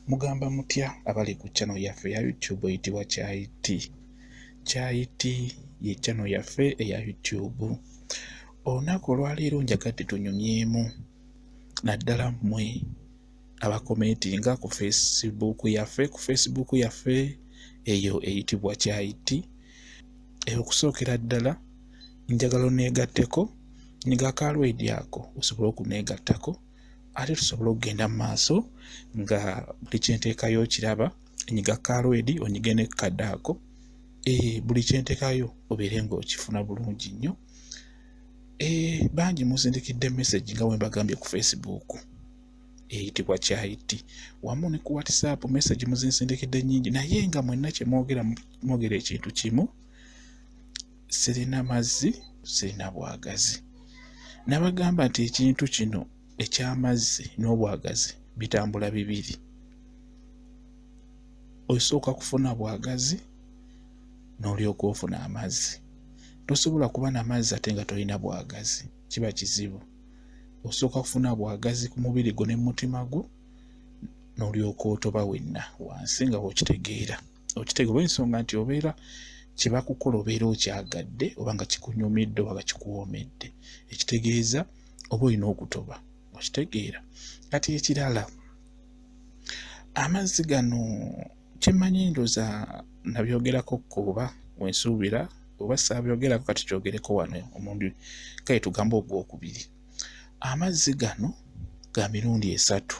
Mugamba mutya abali ku channel yaffe ya YouTube eyitibwa Kyayi Tea. Kyayi Tea ye channel yaffe eya YouTube. Olunaku olwaleero njagadde tunyumyemu naddala mmwe abakomentinga ku Facebook yaffe ku Facebook yaffe eyo eyitibwa Kyayi Tea. Eyo okusookera ddala njagala oneegatteko nga ka lwedi ako osobole okuneegattako. ate tusobole okugenda mu maaso nga buli kyenteekayo okiraba enyiga kalwedi onyige ne kadaako e, eh, buli kyenteekayo obeere nga okifuna bulungi nnyo e, bangi muzindikidde message nga wembagambye ku facebook eyitibwa kyayiti wamu ne ku whatsapp message muzinsindikidde nyingi naye nga mwenna kyemwogera mwogera ekintu kimu sirina mazzi sirina bwagazi nabagamba nti ekintu kino ekyamazzi n'obwagazi bitambula bibiri osooka kufuna bwagazi n'olyoka ofuna amazzi tosobola kuba na mazzi ate nga tolina bwagazi kiba kizibu osooka kufuna bwagazi ku mubiri gwo ne mumutima gwo n'olyoka otoba wenna wansi nga wokitegeera okitega olwensonga nti obeera kyebakukola obeera okyagadde oba nga kikunyumidde oba nga kikuwoomedde ekitegeeza oba olina okutoba okitegeera kati ekirala amazzi gano kyemanyi ndoza nabyogerako kuba wensuubira oba saabyogerako kati kyogereko wano omundi kale tugamba ogwokubiri amazzi gano ga mirundi esatu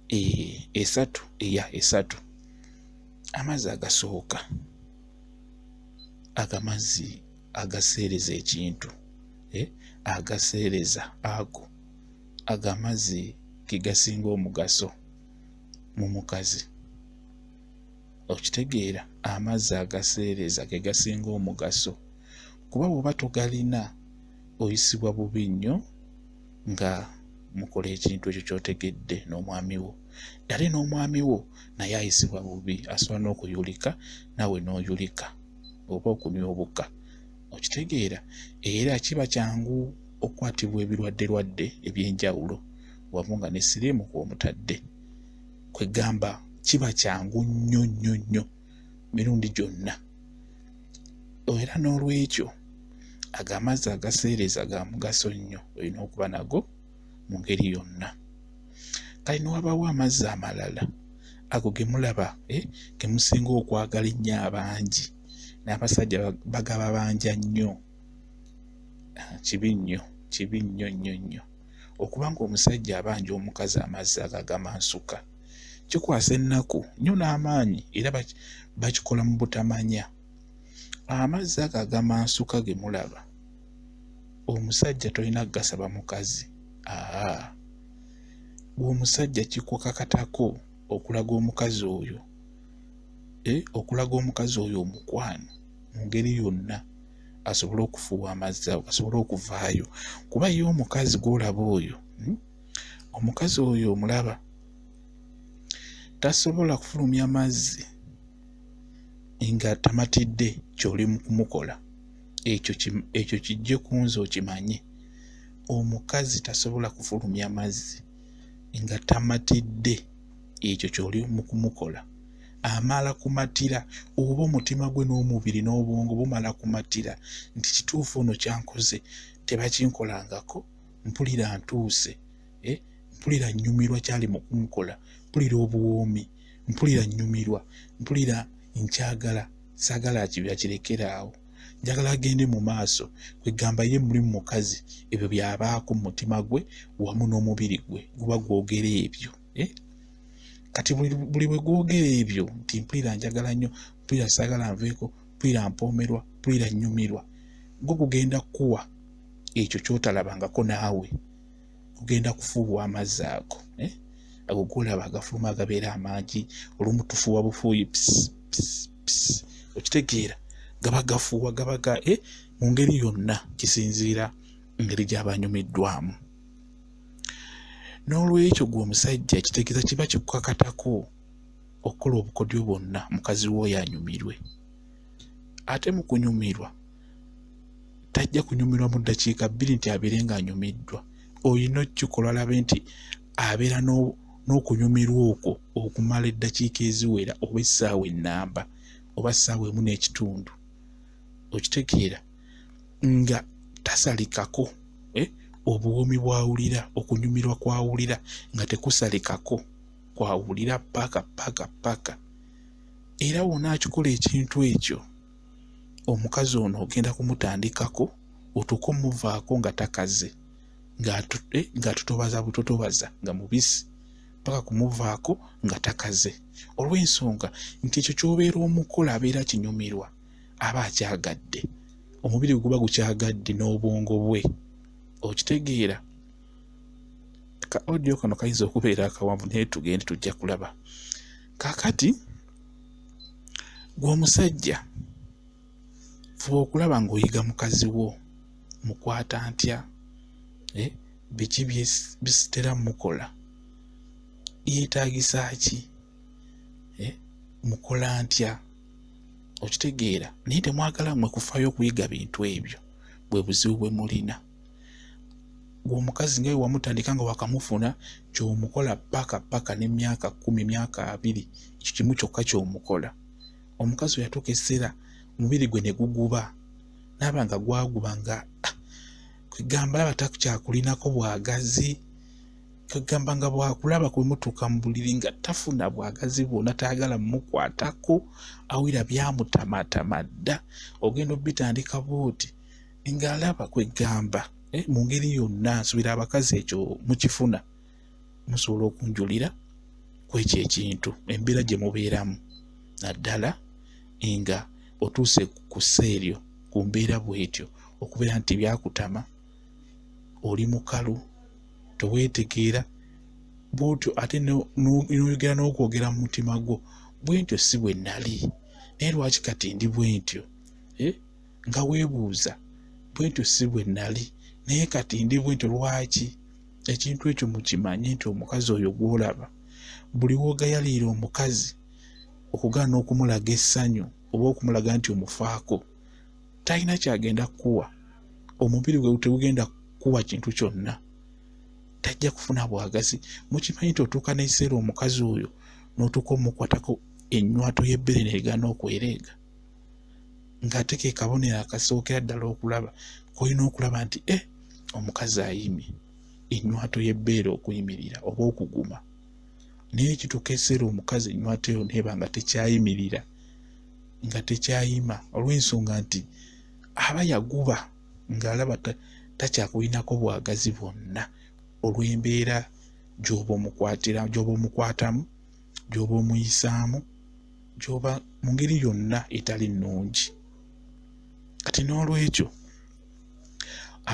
eh, esatu eya esatu amazzi agasooka agamazzi agaseereza ekintu eh, agaseereza ago agamazzi gegasinga omugaso mu mukazi okitegeera amazzi agaseereza gegasinga omugaso kuba bwoba togalina oyisibwa bubi nnyo nga mukola ekintu ekyo kyotegedde n'omwami wo dale n'omwami wo naye ayisibwa bubi asobola n'okuyulika nawe n'oyulika oba okunywa obuka okitegeera era kiba kyangu okukwatibwa ebirwadde lwadde ebyenjawulo wamu nga ne siriimu kwomutadde kwegamba kiba kyangu nnyo nnyo nnyo mirundi gyonna era n'olwekyo ago amazzi agaseereza ga mugaso nnyo olina okuba nago mu ngeri yonna kale newabawo amazzi amalala ago gemulaba eh, gemusinga okwagala ennyo abangi n'abasajja bagaba banja nnyo ah, kibi nnyo kibi nnyo nnyo nnyo okubanga omusajja abanja omukazi amazzi ago agamansuka kikwasa ennaku nyo n'amaanyi era bakikola mu butamanya amazzi ago agamansuka ge mulaba omusajja tolina kugasaba mukazi aa gweomusajja kikukakatako okulaga omukazi oyo e, okulaga omukazi oyo omukwano mu ngeri yonna asobole okufuuwa amazzi ago asobole okuvaayo kuba ye omukazi gwolaba oyo hmm? omukazi oyo omulaba tasobola kufulumya mazzi nga tamatidde kyoli mukumukola ekyo kijje kunze okimanye omukazi tasobola kufulumya mazzi nga tamatidde ekyo kyoli mukumukola amala kumatira oba omutima gwe n'omubiri n'obwongo bumala kumatira nti kituufu ono kyankoze tebakinkolangako mpulira ntuuse eh? mpulira nyumirwa kyali mukunkola mpulira obuwoomi mpulira nyumirwa mpulira nkyagala sagala akirekeraawo njagala agende mu maaso kwegamba ye mulimu mukazi ebyo byabaako mu mutima gwe wamu n'omubiri gwe guba gwogera ebyo eh? kati buli bwe gwogera ebyo nti mpulira njagala nnyo mpulira sagala nveeko mpulira mpoomerwa mpulira nyumirwa gwo gugenda kukuwa ekyo kyotalabangako naawe ogenda kufuuwa amazzi ago eh? ago golaba agafuluma agabeera amangi olumu tufuuwa bufuuyi okitegeera gaba gafuuwa gaba ga eh? mu ngeri yonna kisinziira ngeri gyaba anyumiddwamu n'olwekyo gwe omusajja kitegeeza kiba kikukakatako okukola obukodyo bwonna mukazi wooyo anyumirwe ate mu kunyumirwa tajja kunyumirwa mu ddakiika bbiri nti abeere ng'anyumiddwa olina okukikola alabe nti abeera n'okunyumirwa okwo okumala eddakiika eziwera oba essaawa ennamba oba ssaawa emu n'ekitundu okitegeera nga tasalikako eh, obuwoomi bwawulira okunyumirwa kwawulira nga tekusalikako kwawulira paka paka paka era wona akikola ekintu ekyo omukazi ono ogenda kumutandikako otuuka omuvaako nga takaze ng'atutobaza eh, butotobaza nga mubisi paka kumuvaako nga takaze olw'ensonga nti ekyo kyobeera omukola abeera kinyumirwa aba akyagadde omubiri gwe guba gukyagadde n'obwongo bwe okitegeera ka audio kano kayinza okubeera akawanvu naye tugende tujja kulaba kakati gwe omusajja fuba okulaba ng'oyiga mukazi wo mukwata ntya eh, biki bisitera mukola yeetagisa ki eh, mukola ntya okitegeera naye temwagala mwe kufayo okuyiga bintu ebyo bwe buzibu bwe mulina gwe omukazi nga wewamutandika nga wakamufuna kyomukola paka paka ne myaka kumi myaka abiri ekyo kimu kyokka kyomukola omukazi weyatuuka ekiseera omubiri gwe ne guguba naaba nga gwaguba nga ah, kwegamba laba takukyakulinako bwagazi kwegamba nga bwakulaba kwemutuuka mu buliri nga tafuna bwagazi bwona tayagala mukwatako awira byamutamatama dda ogenda obitandika bwoti ng'alaba kweggamba eh, mu ngeri yonna nsubira abakazi ekyo mukifuna musobola okunjulira kwekyo ekintu embeera gye mubeeramu naddala nga otuuse ku seeryo ku mbeera bwetyo okubeera nti byakutama oli mukalu teweetegeera bwotyo ate noyogera n'okwogera mu mutima gwo bwentyo si bwe nali naye lwaki kati ndi bwentyo eh? nga weebuuza bwentyo si bwe nnali naye kati ndi bwentyo lwaki ekintu ekyo mukimanye nti omukazi oyo gw'olaba buli woogayaliira omukazi okugaana okumulaga essanyu oba okumulaga nti omufaako talina kyagenda kukuwa omubiri gwe tegugenda kukuwa kintu kyonna tajja kufuna bwagazi mukimanyi nti otuuka n'ekiseera omukazi oyo n'otuuka omukwatako ennywato y'ebbere neegaana okwereega ng'ate ke kabonero akasookera ddala okulaba kolina okulaba nti e omukazi ayimi ennywato y'ebbeere okuyimirira oba okuguma naye ekituuka eseera omukazi ennywato eyo neeba nga tekyayimirira nga tekyayima olw'ensonga nti aba yaguba ng'alaba takyakulinako bwagazi bwonna olw'embeera gy'oba omukwatira gy'oba omukwatamu gy'oba omuyisaamu gyoba mu ngeri yonna etali nnungi kati n'olwekyo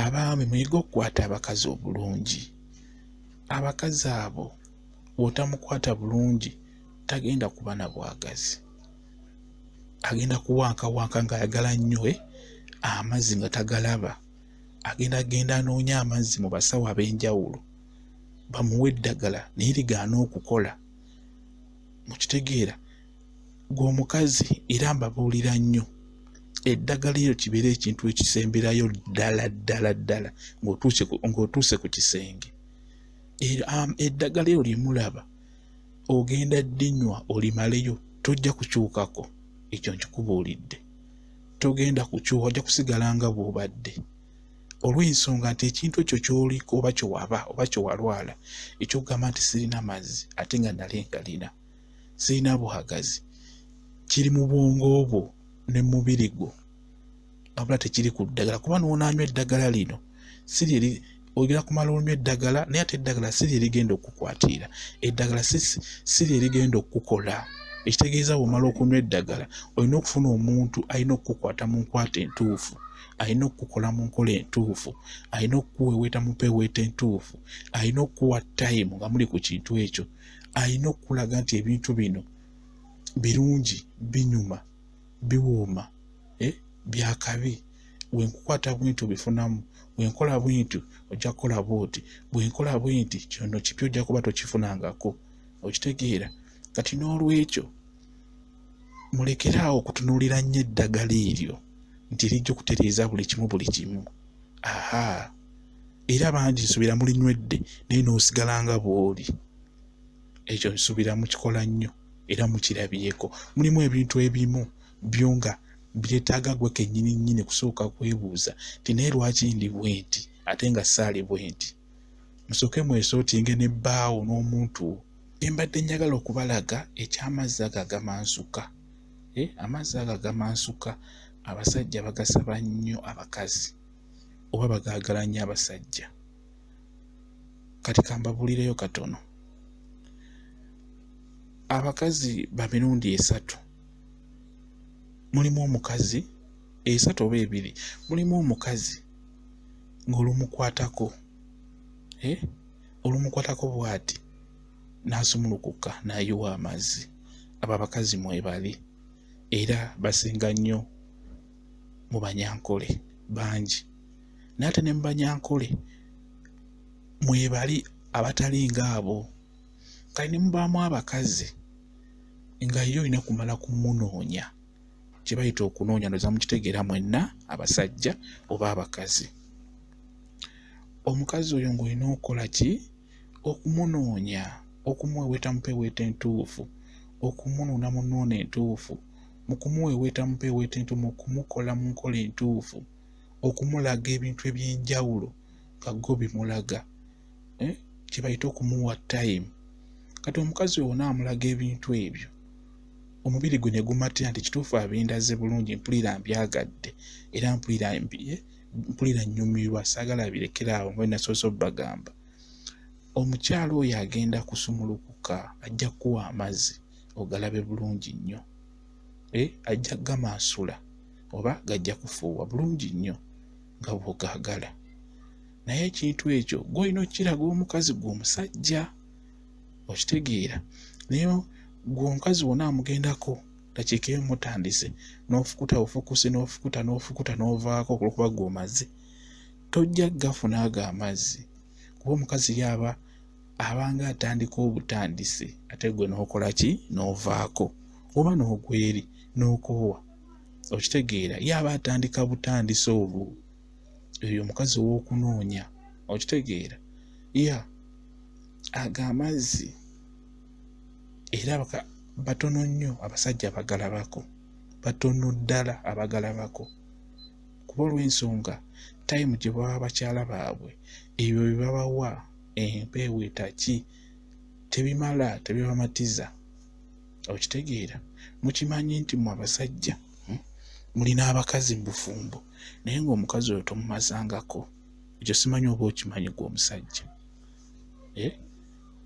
abaami muyige okukwata abakazi obulungi abakazi abo bwotamukwata bulungi tagenda kuba na bwagazi agenda kuwankawanka ng'ayagala nnyo eh, amazzi nga tagalaba agenda genda anoonya amazzi mu basawo ab'enjawulo bamuwe eddagala naye ligaana okukola mukitegeera gwe omukazi era mbabuulira nnyo eddagala eryo kibeera ekintu ekisemberayo ddala ddala ddala ng'otuuse ku kisenge eddagala eryo lyemulaba ogenda ddinywa olimaleyo tojja kukyukako ekyo nkikubuulidde togenda kukyuka ojja kusigala nga bw'obadde olw'ensonga nti ekintu ekyo kyoliko oba kyewaba oba kyewalwala ekyokugamba nti sirina mazzi ate nga nali ngalina sirina buhagazi kiri mu bwongo bwo ne mu mubiri gwo wabula tekiri ku ddagala kuba noonanywa eddagala lino siri eri oyogera kumala onywa eddagala naye ate eddagala siri erigenda okukwatiira eddagala siri erigenda okukukola ekitegeeza bwomala okunywa eddagala olina okufuna omuntu alina okukukwata mu nkwata entuufu alina okukukola mu nkola entuufu alina okukuweeweeta mu peeweeta entuufu alina okukuwa tayimu nga muli ku kintu ekyo alina okukulaga nti ebintu bino birungi binyuma biwooma eh, byakabi wenkukwata bwenti obifunamu wenkola bwenti ojja kukola bwoti bwenkola bwenti kyono kipya ojja kuba tokifunangako okitegeera kati n'olwekyo mulekere awo okutunuulira nnyo eddagala eryo nti rijja okutereeza buli kimu buli kimu aha era bangi nsubira mulinywedde naye n'osigala nga bw'oli ekyo nsubira mukikola nnyo era mukirabyeko mulimu ebintu ebimu byo nga byetaaga gwe kennyini nnyini kusooka kwebuuza nti naye lwaki ndi bwenti ate nga saali bwenti musooke mwesotinge ne bbaawo n'omuntu wo Bye mbadde njagala okubalaga eky'amazzi ago agamansuka. Eh, amazzi ago agamansuka abasajja bagasaba nnyo abakazi oba bagaagala nnyo abasajja. Kati kambabuulireyo katono. Abakazi ba mirundi esatu. Mulimu omukazi esatu oba ebiri. Mulimu omukazi ng'olumukwatako. Eh? olumukwatako bwati n'asumulukuka n'ayiwa amazzi abo abakazi mwebali era basinga nnyo mu banyankole bangi naate ne mu banyankole mwebali abatali ngaabo kale ne mubaamu abakazi nga ye olina kumala kumunoonya kye bayita okunoonya ndoza mukitegeera mwenna abasajja oba abakazi omukazi oyo ng'olina okukola ki okumunoonya okumuweweeta mupeweeta entuufu okumunuuna mu nnuuna entuufu mu kumuweweeta mupeweeta entuufu mu kumukola mu nkola entuufu okumulaga ebintu eby'enjawulo nga go bimulaga eh, kye bayita okumuwa time kati omukazi wona amulaga ebintu ebyo omubiri gwe ne gumatira nti kituufu abindaze bulungi mpulira mbyagadde era mpulira eh, mpulira nnyumirwa saagala abirekera awo nga nasoose obagamba omukyala oyo agenda kusumulukuka ajja kukuwa amazzi ogalabe bulungi nnyo eh, ajja gamansula oba gajja kufuuwa bulungi nnyo nga bwogagala naye ekintu ekyo gwolina okukiraga omukazi gwe omusajja okitegeera naye gwe omukazi wona amugendako dakiika emu mutandise n'ofukuta ofukuse n'ofukuta n'ofukuta n'ovaako olwokuba gwe omaze tojja gafuna ago amazzi kuba omukazi yaaba abanga atandika obutandisi ate gwe n'okola ki n'ovaako oba n'ogweri n'okoowa okitegeera yaaba atandika butandisi olwo oyo omukazi ow'okunoonya okitegeera ya yeah. ago amazzi era batono nnyo abasajja abagalabako batono ddala abagalabako kuba olw'ensonga tayimu gye baba bakyala baabwe ebyo bye babawa empeewo etaki tebimala tebibamatiza okitegeera mukimanyi nti mu abasajja hmm, mulina abakazi mu bufumbo naye ng'omukazi oyo tomumazangako ekyo simanyi oba okimanyi gwe omusajja eh?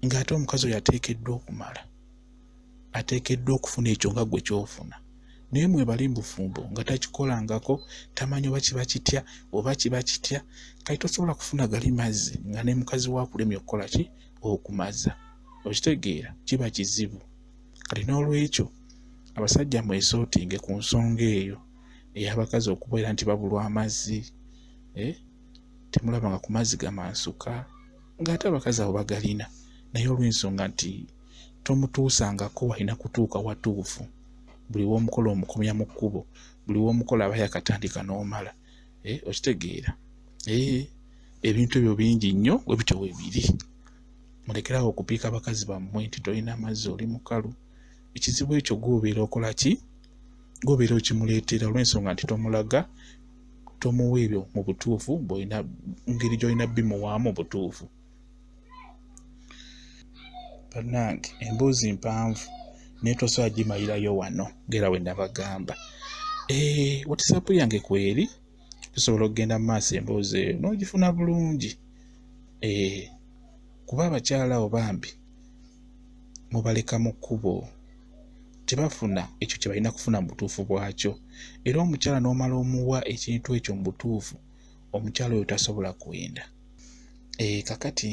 ng'ate omukazi oyo ateekeddwa okumala ateekeddwa okufuna ekyo nga gwe kyofuna naye mwebali mubufumbo nga takikolangako tamanyi oba kiba kitya oba kiba kitya kati tosobola kufuna gali mazzi nga ne mukazi wakulemya okukola ki okumaza okitegeera kiba kizibu kati n'olwekyo abasajja mwesootinge ku nsonga eyo ey'abakazi okubeera nti babulwa amazzi eh? temulaba nga ku mazzi gamansuka ng'ate abakazi abo bagalina naye olw'ensonga nti tomutuusangako walina kutuuka watuufu buli w'omukola omukomya mu kkubo buli w'omukola aba yakatandika n'omala eh, okitegeera eh, ebintu ebyo bingi nnyo we bityo we biri mulekerawo okupiika abakazi bammwe nti tolina amazzi oli mukalu ekizibu ekyo gwobeera okola ki gwobeera okimuleetera olw'ensonga nti tomulaga tomuwa ebyo mu butuufu bwolina ngeri gyolina bimuwaamu obutuufu banange emboozi mpanvu naye tosobola gimalirayo wano ngera we nabagamba eh, watisaapu yange kweri tusobola okugenda mu maaso emboozi eyo n'ogifuna bulungi eh, kuba abakyala abo bambi mubaleka mu kkubo tebafuna ekyo kye balina kufuna mu butuufu bwakyo era omukyala n'omala omuwa ekintu ekyo mu butuufu omukyala oyo tasobola kuwenda e, kakati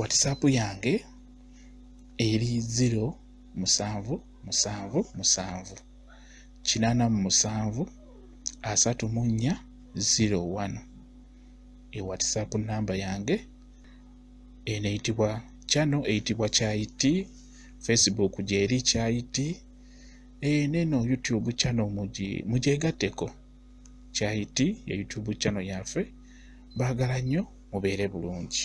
watisaapu yange eri ziro musanvu musanvu musanvu kinaana mu musanvu asatu mu nnya ziro wano e watisaapu namba yange eno eyitibwa kyano eyitibwa kyayiti facebook gyeri kyayiti eh, neno youtube kyano mugyegatteko kyayiti ya youtube kyano yaffe baagala nnyo mubeere bulungi